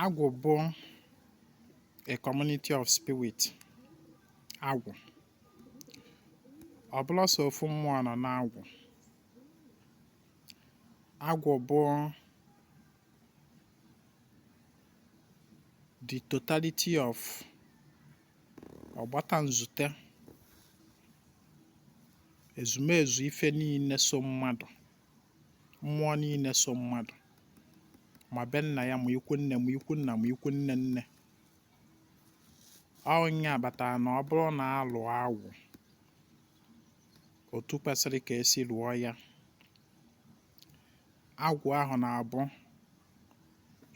Agwụ bụ a community of spirit. Agwụ. Ọ bụrọ sọ ofu mmụọ nọ n'agwụ. Agwụ bụ the totality of ọgbata nzute ezumezu ife niile so mmadụ. mmụọ niile so mmadụ ma be nna ya ma ikwu nne ma ikwu nna ma ikwu nne nne ọnya kpatara na ọ bụrụ na alụọ agwụ otu kwesịrị ka esi lụọ ya agwụ ahụ na-abụ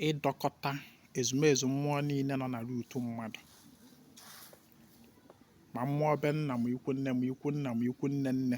ịdọkọta ezumezu mmụọ niile nọ na root mmadụ ma mmụọ be nna ma ikwu nne ma ikwu nna ma ikwu nne nne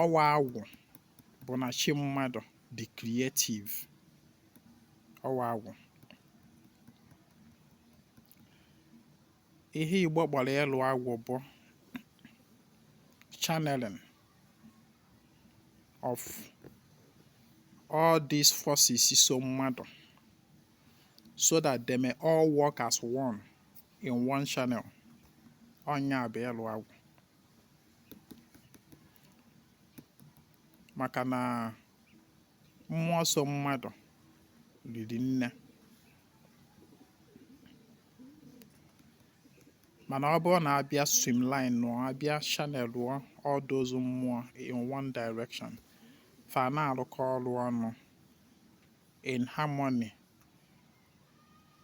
ọwa agwụ bụ na chi mmadụ dị creative ọwa agwụ ihe igbo kpọrọ ịlụ agwụ bụ channeling of all these forces so mmadụ so that they may all work as one in one channel ọnya bụ ịlụ agwụ maka na mmụọ so mmadụ riri nne mana ọ bụrụ na abịa streamlineụọ abịa channelụọ all those mmụọ in one direction fa na-arụkọ ọrụ ọnụ in harmony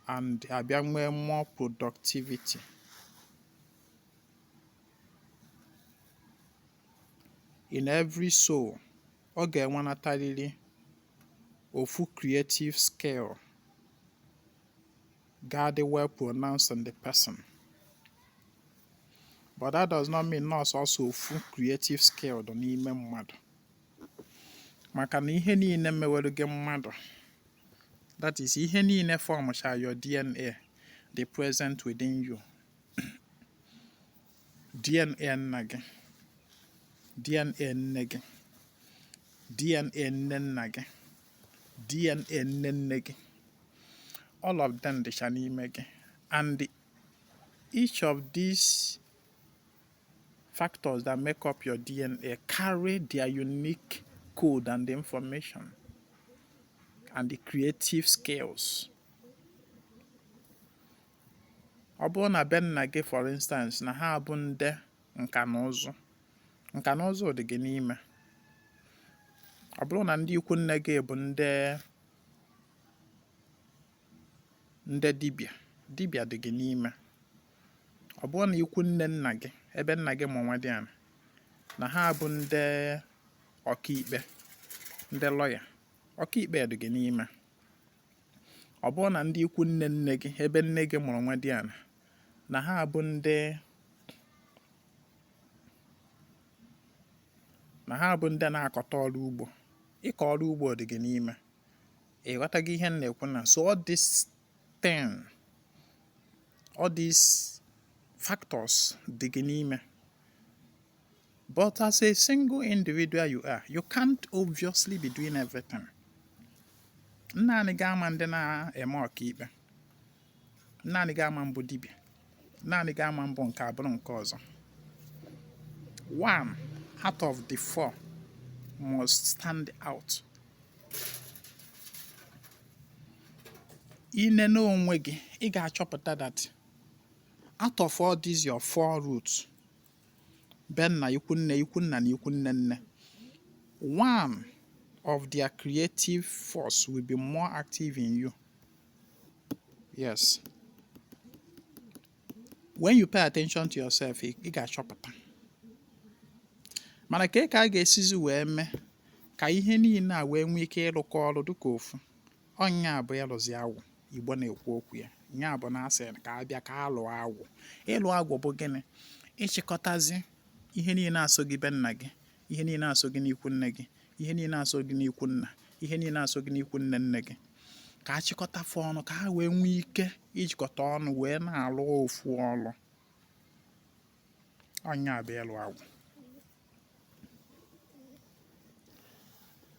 and abịa nwee more productivity. In every soul, ọ ga-enwenatarịrị ofu creative skill ga-adị well pronounced in the person. But that does not mean na ọ sọsọ ofu creative skill dị n'ime mmadụ. maka na ihe niile mewere gị mmadụ that is ihe niile formụcha your DNA dị present within you DNA nna gị DNA nne gị DNA nne nna gị DNA nne nne gị all of them dịcha n'ime gị and each of these Factors that make up your DNA carry their unique code and information and the creative skills. Ọ bụrụ na be nna gị for instance na ha bụ ndị nka na ụzụ nka na ụzụ dị gị n'ime ọ bụrụ na ndị ikwu nne gị bụ ndị ndị dibịa dibịa dị gị n'ime ọ bụrụ na ikwu nne nna gị ebe nna gị mụrụ nwadiana na ha bụ ndị ọkaikpe ndị lọya ọkaikpe dị gị n'ime ọ bụrụ na ndị ikwu nne nne gị ebe nne gị mụrụ nwadiana na ha bụ ndị na-akọta ọrụ ugbo ịkọ ọrụ ugbo dị gị n'ime ị ghọtago ihe m na-ekwu na so all this thing all these factors dị gị n'ime but as a single individual you are you can't obviously be doing everything naanị gị ama dị na-eme ọkaikpe naanị gị ama bụ dibịa naanị gị ama bụ nke a bụrụ nke ọzọ one out of the four must stand out i nene onwe gị ị ga-achọpụta that out of all these your four roots be nna ikwu nne ikwu nna na ikwu nne nne one of their creative force will be more active in you yes when you pay attention to yourself ị ga-achọpụta mana ka ka a ga-esizi wee mee ka ihe niile a wee nwee ike ịrụkọ ọrụ dịka ofu ọ nya bụ ịlụzi agwụ igbo na-ekwu okwu ya nya bụ na a sị ka a bịa ka a lụọ agwụ ịlụ agwụ bụ gịnị ịchịkọtazi ihe niile a so gị be nna gị ihe niile a so gị n'ikwu nne gị ihe niile a so gị n'ikwu nna ihe niile a so gị n'ikwu nne nne gị ka a chịkọta fa ọnụ ka ha wee nwee ike ijikọta ọnụ wee na-alụ ofu ọlụ ọ nya bụ ịlụ agwụ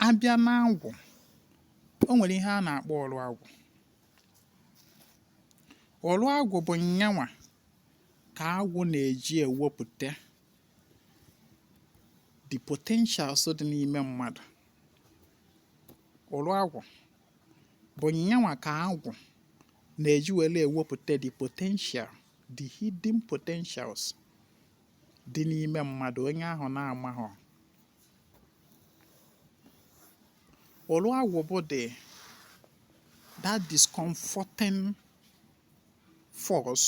a bịa na agwụ o nwere ihe a na-akpọ ụlụ agwụ ụlụ agwụ bụ nyanwa ka agwụ na-eji ewepụta the potentials dị n'ime mmadụ ụlụ agwụ bụ nyanwa ka agwụ na-eji were ewepụta the potential the hidden potentials dị n'ime mmadụ onye ahụ na-amaghọ ụlụ agwụ bụ the that discomforting force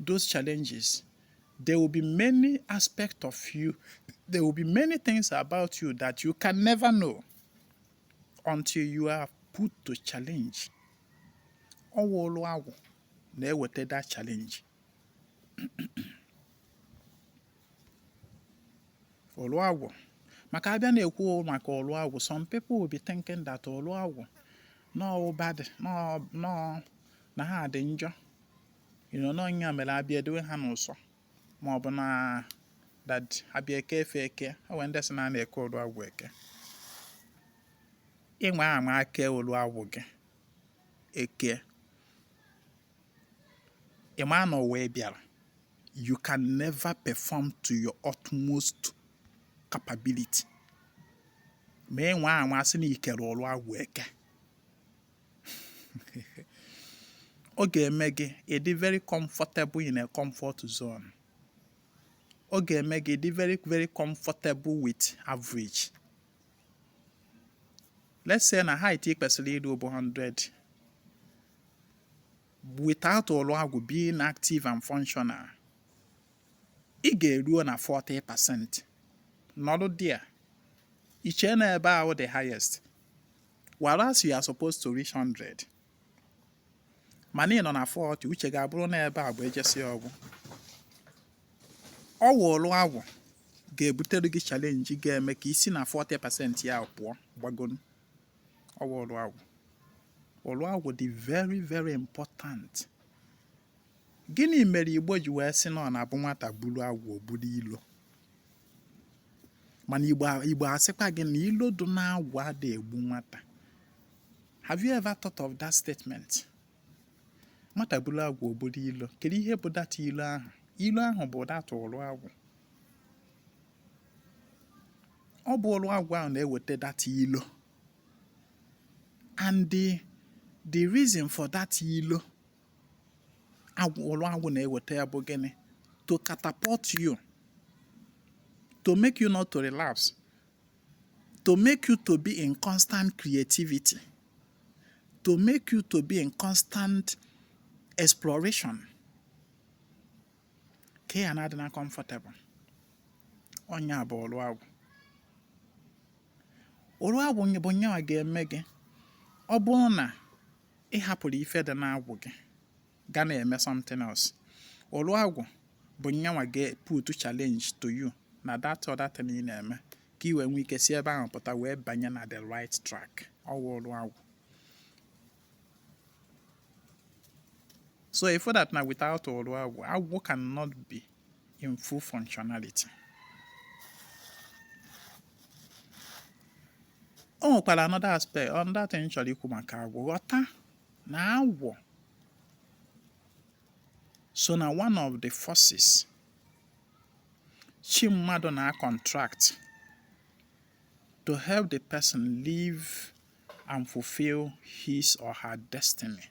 those challenges, there will be many aspects of you, there will be many things about you that you can never know until you are put to challenge. Ọ wụ ụrụ agwụ na-eweta that challenge. Ụrụ agwụ maka a bịa na-ekwu maka ụrụ agwụ some people will be thinking that ụrụ agwụ na ọ bad na ọ na ha dị njọ you know na ọ nya mere a bịa edewe ha n'ụsọ ma ọ bụ na that a bịa eke fa eke e nwe ndị sị na a na-eke ụrụ agwụ eke ị nwaa anwa kee ụrụ agwụ gị eke ị ma na ụwa ị bịara you can never perform to your utmost capability ma ị nwaa anwa sị na i kere ụrụ agwụ eke ọ ga-eme gị ị dị very comfortable in a comfort zone ọ ga-eme gị ị dị very very comfortable with average let's say na height ị kwesịrị iru bụ 100 without ụrụ agwụ being active and functional ị ga-eruo na 40 percent nọdụ there i che na ebe ahụ the highest whereas you are supposed to reach 100 mana ị nọ na 40 uche gị abụrụ na ebe a bụ e jesi ọ gwụ ọ wụ ụrụ agwụ ga-ebutere gị challenge ga-eme ka i si na 40% ya pụọ gbago enu ọ wụ ụrụ agwụ ụrụ agwụ dị very very important gịnị mere igbo ji wee sị na ọ na-abụ nwata buru agwụ o buru ilo mana igbo asịkwa gị na ilo dị na agwụ ada egbu nwata have you ever thought of that statement nwata buru agwụ o buru ilo kedu ihe bụ that ilo ahụ ilo ahụ bụ that ụrụ agwụ ọ bụ ụrụ agwụ ahụ na-eweta that ilo and the the reason for that ilo agwụ ụrụ agwụ na-eweta ya bụ gịnị to catapult you to make you not to relapse to make you to be in constant creativity to make you to be in constant exploration ka ya na-adị na comfortable ọ nya bụ ụrụ agwụ ụrụ agwụ bụ nya nwa ga-eme gị ọ bụrụ na ị hapụrụ ife dị n'agwụ gị ga na-eme something else ọrụ agwụ bụ nyanwa ga-put challenge to you na that other thing ị na-eme ka ị wee nwee ike si ebe ahụ pụta wee banye na the right track ọ wụ ọrụ agwụ so if that na without ọrụ agwụ agwụ cannot be in full functionality. o nwekwara another aspect another thing m chọrọ ikwu maka agwụ ghọta na agwụ so na one of the forces chi mmadụ na-contract to help the person live and fulfill his or her destiny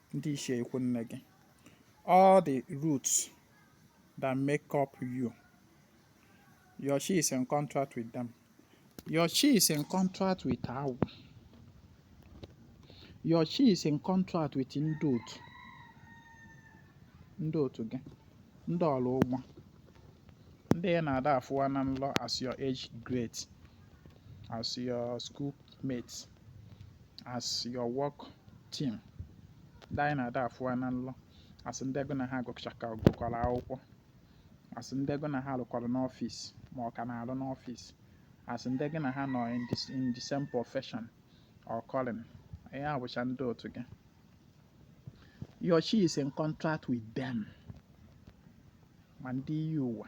ndị ichie ikwu nne gị all the roots that make up you your chi is in contract with them your chi is in contract with agwụ your chi is in contract with ndị otu ndị otu gị ndị ọra ụgbọ ndị ị na-ada afụwa na nlọ as your age grade as your school mate as your work team ndị anyị na-ada afụwa na nlọ as ndị gị na ha gụkọrọ akwụkwọ as ndị gị na ha rụkọrọ n'ọfịs ma ọ ka na-arụ n'ọfịs as ndị gị na ha nọ in the- in the same profession or calling ihe a bụcha ndị otu gị your chi is in contract with them ma ndị iyi ụwa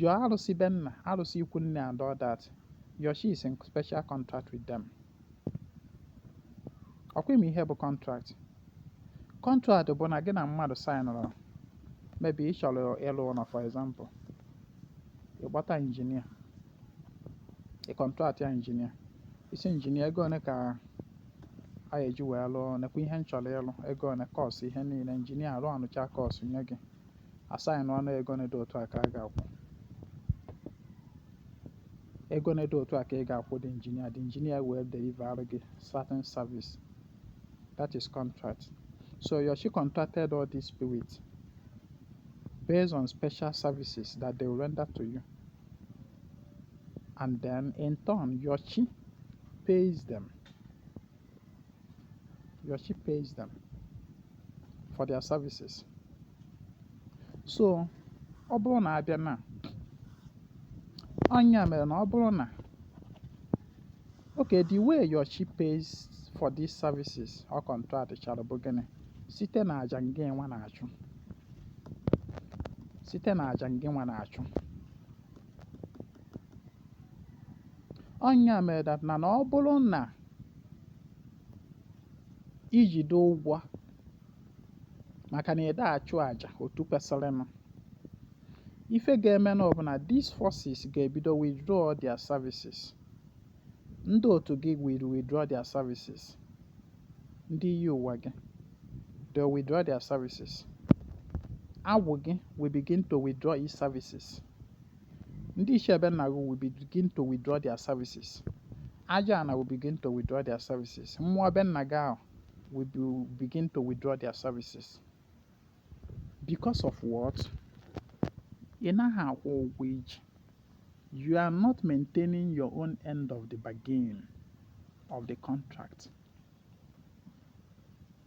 Your arụsị be nna, arụsị ikwu nne and all that. Your chi is in special contract with them. Ọ kwa ị ma ihe bụ contract. Contract bụ na gị na mmadụ saịnụrụ maybe ị chọrọ ịlụ ụlọ for example. Ị kpọta injinia. Ị contractịa injinia. Ị sị injinia ego one ka a ga-eji wee lụọ ọrụ nekwa ihe m chọrọ ịlụ ego one cost ihe niile injinia rụọ anụcha cost nye gị a saịnụọ ọnụ ego one dị otu a ka a ga-akwụ ego one dị otu a ka ị ga-akwụ the engineer the engineer wee deliver gị certain service that is contract so your chi contracted all these spirits based on special services that they will render to you and then in turn your chi pays them your chi pays them for their services so ọ bụrụ na a bịa na ọ nya mere na ọ bụrụ na okay the way your chi pays for these services or contract chara bụ gịnị site na aja ngịnwa na-achụ site na aja ngịnwa na-achụ Ọ nya mere that na ọ bụrụ na i jide ụgwọ maka na ị da-achụ aja otu kwesịrịnụ, ife ga-emenụ bụ na these forces ga-ebido withdraw their services. Ndị otu gị will withdraw their services. Ndị iyi ụwa gị, they will withdraw their services. Agwụ gị will begin to withdraw its services. Ndị ichie be nna gị will begin to withdraw their services. Aja ana will begin to withdraw their services. Mmụọ be nna gị ahụ will be, begin to withdraw their services. Because of what? Ị naghị akwụ ụgwọ i ji. You are not maintaining your own end of the bargain of the contract.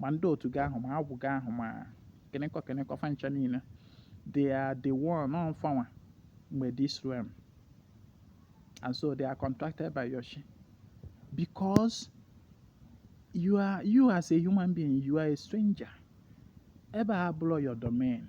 ma ndị otu gị ahụ ma agwụ gị ahụ ma kịnịkọ kịnịkọ fa ncha niile they are the one ọ fanwa nwe this realm and so they are contracted by your chi because you are you as a human being you are a stranger ebe a abụrọ your domain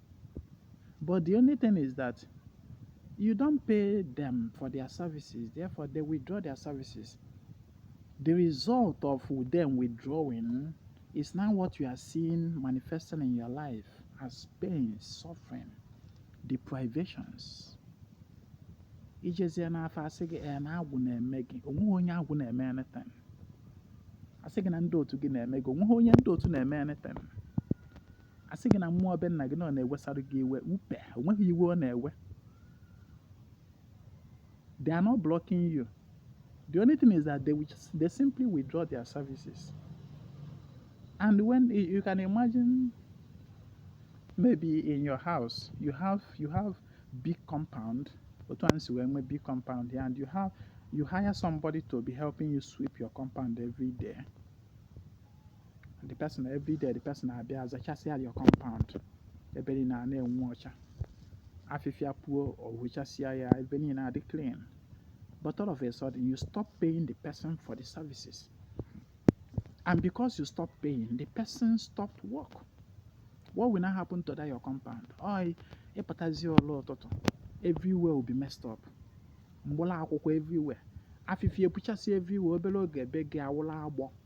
But the only thing is that you don't pay them for their services, therefore they withdraw their services. The result of them withdrawing is now what you are seeing manifesting in your life as pain, suffering, deprivations. i jezie n'afa a sị gị ee na agwụ na-eme gị o nweghị onye agwụ na-eme anything a sị gị na ndị otu gị na-eme gị o nweghị onye ndị otu na-eme anything a sị gị na mmụọ be nna gị nọ na-ewesara gị iwe upe o nweghị iwe ọ na-ewe they are not blocking you the only thing is that they, will just, they simply withdraw their services and when you can imagine maybe in your house you have you have big compound otu anyị si wee nwee big compound here and you have you hire somebody to be helping you sweep your compound every day the person every day the person abịa zachasịa your compound ebe niile ana-enwu ọcha afịfịa puo ọ wụchasịa ya ebe niile adị clean but all of a sudden you stop paying the person for the services and because you stop paying the person stopped work what will now happen to that your compound oi ị pụtazi ụra ụtụtụ everywhere will be messed up mgbụla akwụkwọ everywhere afịfịa epuchasịa everywhere obere oge be gị awụla agbọ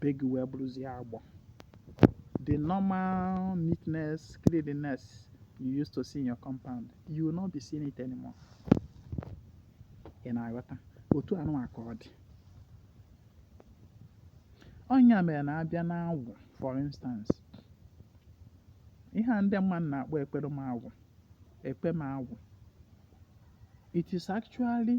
be gị wee bụrụzie agbọ the normal neatness cleanliness you used to see in your compound you will not be seeing it anymore ị na-aghọta otu anụwa ka ọ dị ọ nya mere na a bịa n'agwụ for instance ihe a ndị mmadụ na-akpọ ekpere m agwụ ekpe m agwụ it is actually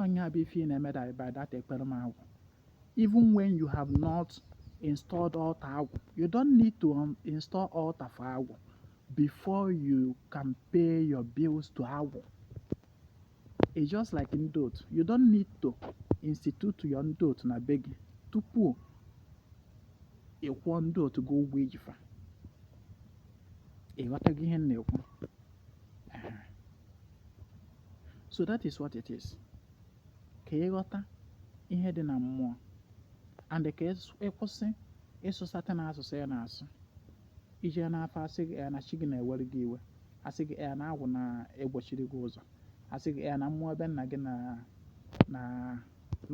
ọ nya bụ ife ị na-eme that by that ekpere m agwụ even when you have not installed altar agwụ you don't need to um, install altar for agwụ before you can pay your bills to agwụ it's just like ndị otu you don't need to institute your ndị otu na be gị tupu ị kwụọ ndị otu gị ụgwọ i ji fa ị ghọtago ihe m na-ekwu so that is what it is ka ị ghọta ihe dị na mmụọ and ka ị kwụsị ịsụ certain asụsụ a na-asụ i je n'afa a sị gị na chi gị na-ewere gị iwe a sị gị na agwụ na-egbochiri gị ụzọ a sị gị na mmụọ be nna gị na na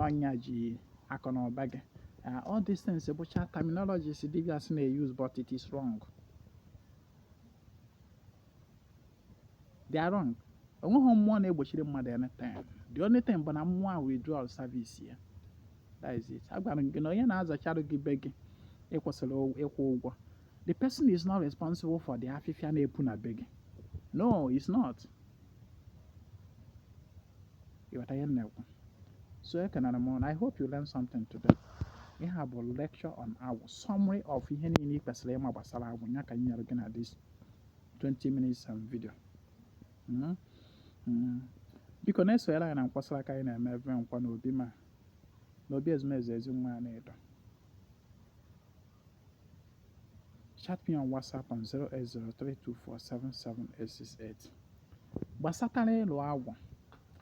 ọ nya ji akụ na ụba gị Uh, all these things bụcha terminologies dibịas na-use but it is wrong. they are wrong o nweghị mmụọ na-egbochiri mmadụ anything the only thing bụ na mmụọ ahụ withdrawal service ya that is it agwara m gị na onye na-azacharụ gị be gị ị kwụsịrị ịkwụ ụgwọ the person is not responsible for the afịfịa na-epu na be gị no it's not ị ghọta ihe m na-ekwu so ekenara m na i hope you learn something today ihe a bụ lecture on agwụ summary of ihe niile ị kwesịrị ịma gbasara agwụ ya ka m nyere gị na this 20 minutes and video hmm? Hmm. biko na-esonyere anyị na nkwasara aka anyị na-eme ebe nkwa na obi ma na obi ezumezu ezi nwa anaedo chat me on whatsapp on 08032477868 gbasatara ịlụ agwụ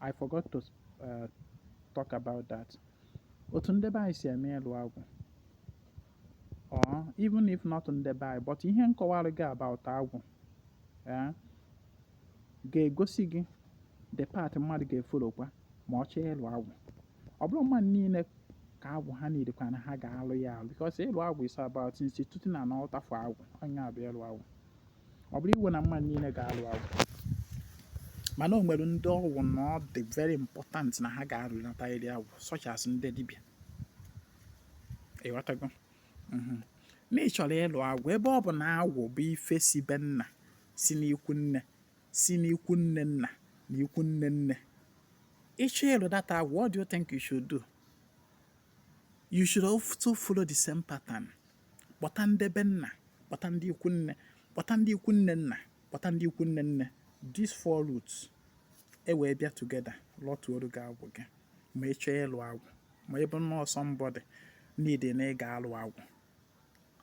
i forgot to uh, talk about that otu ndị be anyị si eme ịlụ agwụ or even if not ndị be anyị but ihe m kọwara gị about agwụ eh, ga-egosi gị the path mmadụ ga-efollowkwa ma ọ chọọ ịlụ agwụ ọ bụrọ mmadụ niile ka agwụ ha na-erequire na ha ga-alụ ya alụ because ịlụ agwụ is about instituting an altar for agwụ ọ nya bụ ịlụ agwụ ọ bụrọ iwu na mmadụ niile ga-alụ agwụ mana o nwere ndị ọ wụ na ọ dị very important na ha ga-alụnatarịrị agwụ such as ndị dibịa ịghọtago mhm. na ị chọrọ ịlụ agwụ ebe ọ bụ na agwụ bụ ife si be nna si n'ikwu nne si n'ikwu nne nna na ikwu nne nne ịchọ ịlụ that agwụ what do you think you should do you should also follow the same pattern kpọta ndị be nna kpọta ndị ikwu nne kpọta ndị ikwu nne nna kpọta ndị ikwu nne nne these four roots e wee bịa together lọtuoru gị agwụ gị ma ị chọọ ịlụ agwụ ma ị bụ nnọọ somebody need na ị ga-alụ agwụ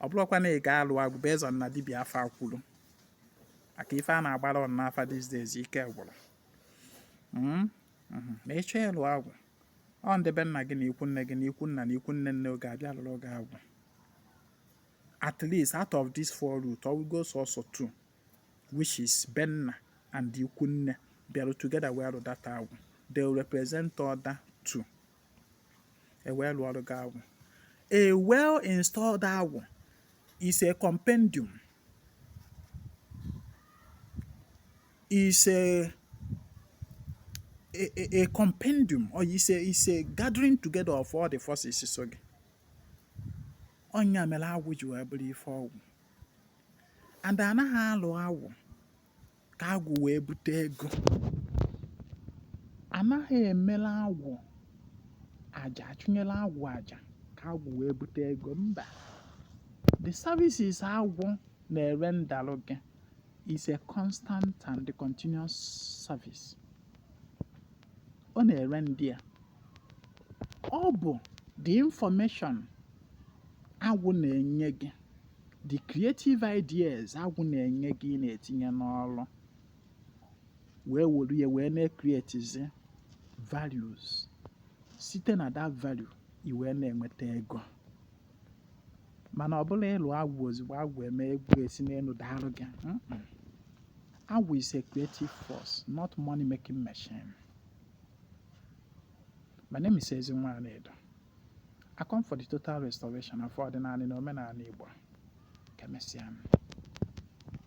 ọ bụrụkwa na ị ga-alụ agwụ bụ ezie na dibịa afa kwuru maka ife a na-agbara ụnụ n'afa these days ike gwụrụ hmm? Hmm. na ịchọ ịlụ agwụ ọ ndị be nna gị na ikwu nne gị na ikwu nna na ikwu nne nne ga-abịa lụọrụ gị agwụ at least out of these four root ọ wụgo sọsọ two which is be nna and ikwu nne bịarụ together wee lụ that agwụ they will represent other two e wee lụọrụ gị agwụ a well installed agwụ is a compendium is a a, a compendium or is a, is a gathering together of all the forces so ọ nya mere agwụ ji wee bụrụ ife ọgwụ and anaghị alụ agwụ ka agwụ wee bute ego anaghị emela agwụ aja achụnyela agwụ aja ka agwụ wee bute ego mba the services agwụ na-erendalụ gị is a constant and continuous service ọ na-erenda ọ bụ the information agwụ na-enye gị the creative ideas agwụ na-enye gị ị na-etinye n'ọrụ wee were ya wee na-ekretizi values site na that value i wee na-enweta ego mana ọ bụrọ ịlụ agwụ ozugbo agwụ eme ego esi n'enu daalụ gị agwụ is a creative force not money making machine my name is Ezinwa Anedo I come for the total restoration of ọdịnanị na omenanị Igbo. Ka emesịa.